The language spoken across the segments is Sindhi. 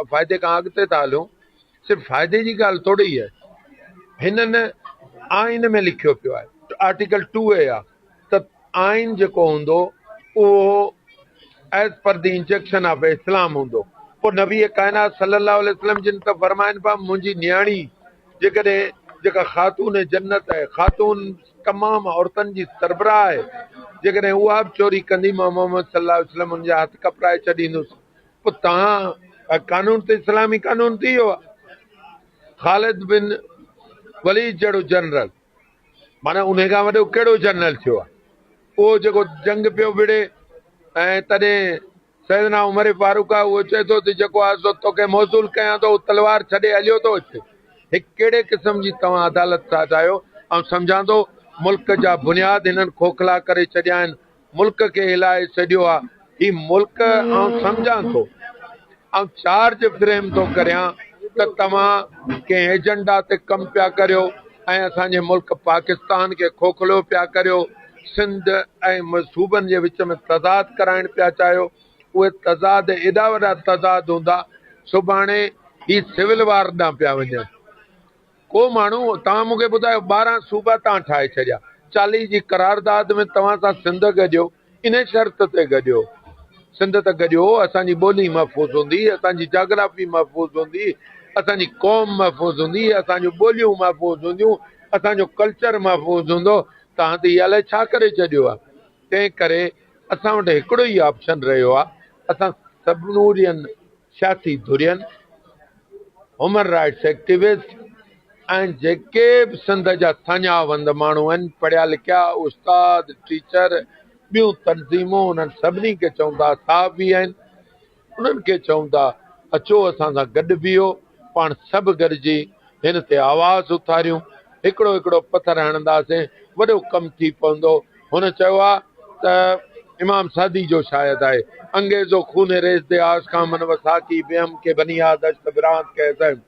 فائدي کان اڳتي ٿا هليون، صرف فائدي جي ڳالهه ٿوري ئي آهي، هنن آئين ۾ لکيو پيو آهي، آرٽيڪل ٽو اي آهي ته آئين جيڪو هوندو اهو As per the injunction of Islam هوندو، پوء نبي ڪائنات صلّي اللّٰه عليه وسلّم جن ته فرمائن پيا منهنجي نياڻي جيڪڏهن جيڪا خاتون جنّت آهي، خاتون تمام عورتن جي سربراهه آهي، جيڪڏهن اها به چوري ڪندي مان محمّد صلّي اللّٰه عليه وسلّم ان جا هٿ ڪپرائي ڇڏيندس. پوء توهان جا قانون ته اسلامي قانون ٿي ويا. خالد بن وليد جهڙو جنرل معنيٰ انهي کان وڏو ڪهڙو جنرل ٿيو آهي اهو جيڪو جنگ پيو وڙهي ۽ تڏهن سيدنا عمر فاروق آهي اهو چئي ٿو ته جيڪو آهي سو توکي موصول ڪيان ٿو اهو تلوار ڇڏي هليو ٿو اچي هي ڪهڙي قسم جي توهان عدالت ساز آهيو آئون سمجهان ٿو ملڪ جا بنياد هنن کوکلا ڪري ڇڏيا آهن ملڪ کي هلائي ڇڏيو آ هي ملڪ آئون سمجهان ٿو آئون چارج فريم ٿو ڪريان ته توهان ڪنهن ايجنڊا تي ڪم پيا ڪريو ۽ اسان جي ملڪ پاڪستان کي کوکلو پيا ڪريو سنڌ ۽ صوبن جي وچ ۾ تضاد ڪرائڻ پيا چاهيو اهي تضاد ايڏا وڏا تضاد هوندا سڀاڻي هي سول وار ڏانهن پيا وڃن ڪو ماڻهو توهان مون کي ٻڌايو ٻارهن صوبا تان ٺاهي ڇڏيا چاليهه جي قرارداد ۾ توهان سان سنڌ گڏيو ان شرط تي گڏيو سنڌ ته گڏيو اسان جي ٻولي محفوظ هوندي اسان جي جاگرافي محفوظ هوندي اسان جي قوم محفوظ هوندي اسان جون ٻوليون محفوظ هونديون اسان جو ڪلچر محفوظ هوندو توهان ته هي الائي ڇا ڪري ڇڏيو آهي تنهن ڪري اسان وٽ هڪڙو ئي آپشن رهيو آهي اسان سڀنورين سياسي ڌرين، هيومن رائٽس ايڪٽيوسٽ ۽ جيڪي به سنڌ جا سڃاوند ماڻهو آهن، پڙهيا لکيا، استاد، ٽيچر، ٻيون تنظيمون انهن سڀني کي چون ٿا، صحافي آهن، انهن کي چون ٿا اچو اسان سان گڏ بيهو، پاڻ سڀ گڏجي هن تي آواز اٿاريون، هڪڙو هڪڙو پٿر هڻنداسين، وڏو ڪم ٿي پوندو. هن چيو آهي ته امام سعدي جو شايد آهي انگيزو خون ريس دي آس کان من وساڪي بهم ڪي بني آدش ته برانت ڪي زهم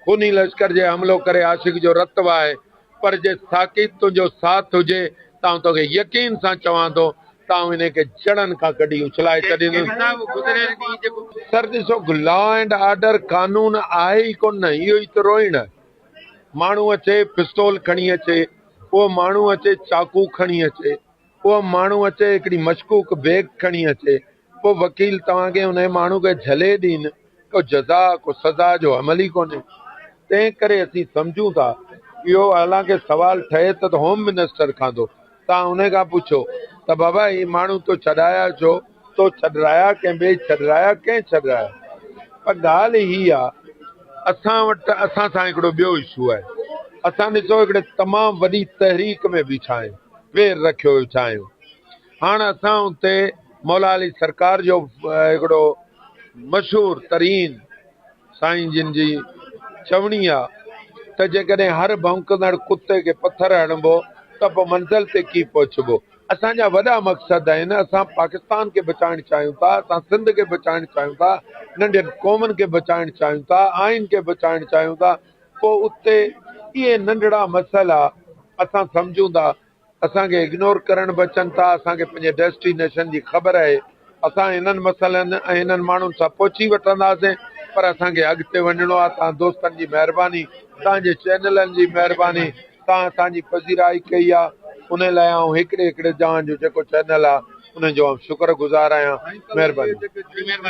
خوني لشڪر جي حملو ڪري عاشق جو رت وهائي پر جي ساڪي تنهنجو ساٿ هجي ته آئون توکي يقين سان چوان ٿو ته آئون انهي کي جڙن کان ڪڍي اڇلائي ڇڏيندس. سر ڏسو لا اينڊ آرڊر قانون آهي ئي ڪونه اهو ئي ته روئڻ آهي ماڻهو اچي پستول کڻي اچي، اهو ماڻهو اچي چاقو کڻي اچي، اهو ماڻهو اچي هڪڙي مشڪوڪ بيگ کڻي اچي، پوء وڪيل توهان کي انهيء ماڻهو کي جهلي ڏين، ڪو جزا، ڪو سزا جو عمل ئي ڪونهي. تنهنڪري اسين سمجهون ٿا، اهو حالانڪه سوال ٺهي ته ته هوم منسٽر کان ٿو، تان انهي کان پڇو ته بابا هي ماڻهو تو ڇڏايا ڇو؟ تو ڇڏرايا ڪنهن ٻئي ڇڏرايا ڪنهن ڇڏرايا؟ پر ڳالهه هي آ اسان وٽ اسان سان هڪڙو ٻيو اشو آهي اسان ڏسو هڪڙي تمام وڏي تحريڪ ۾ بيٺا آهيون پير رکيو ويٺا آهيون هاڻ اسان اتي مولا علي سرڪار جو هڪڙو مشهور ترين سائين جن جي چوڻي آ ته جيڪڏهن هر ڀونڪندڙ ڪتي کي پٿر هڻبو ته پوء منزل تي ڪيئن پهچبو. اسان جا وڏا مقصد آهن، اسان پاڪستان کي بچائڻ چاهيون ٿا، اسان سنڌ کي بچائڻ چاهيون ٿا، ننڍين قومن کي بچائڻ چاهيون ٿا، آئين کي بچائڻ چاهيون ٿا، پوء اتي اهي ننڍڙا مسئلا اسان سمجهون ٿا، اسان کي اگنور ڪرڻ به اچن ٿا، اسان کي پنهنجي ڊيسٽي نيشن جي خبر آهي، اسان انهن مسئلن ۽ انهن ماڻهن سان پهچي وٺنداسين پر اسان کي اڳتي وڃڻو آهي، توهان دوستن جي مهرباني، توهان جي چينلن جي مهرباني، توهان اسان جي پذيرائي ڪئي آهي انهي لاء آئون هڪڙي هڪڙي جوان جو جيڪو چينل آهي انهي جو آئون شڪر گذار آهيان، مهرباني.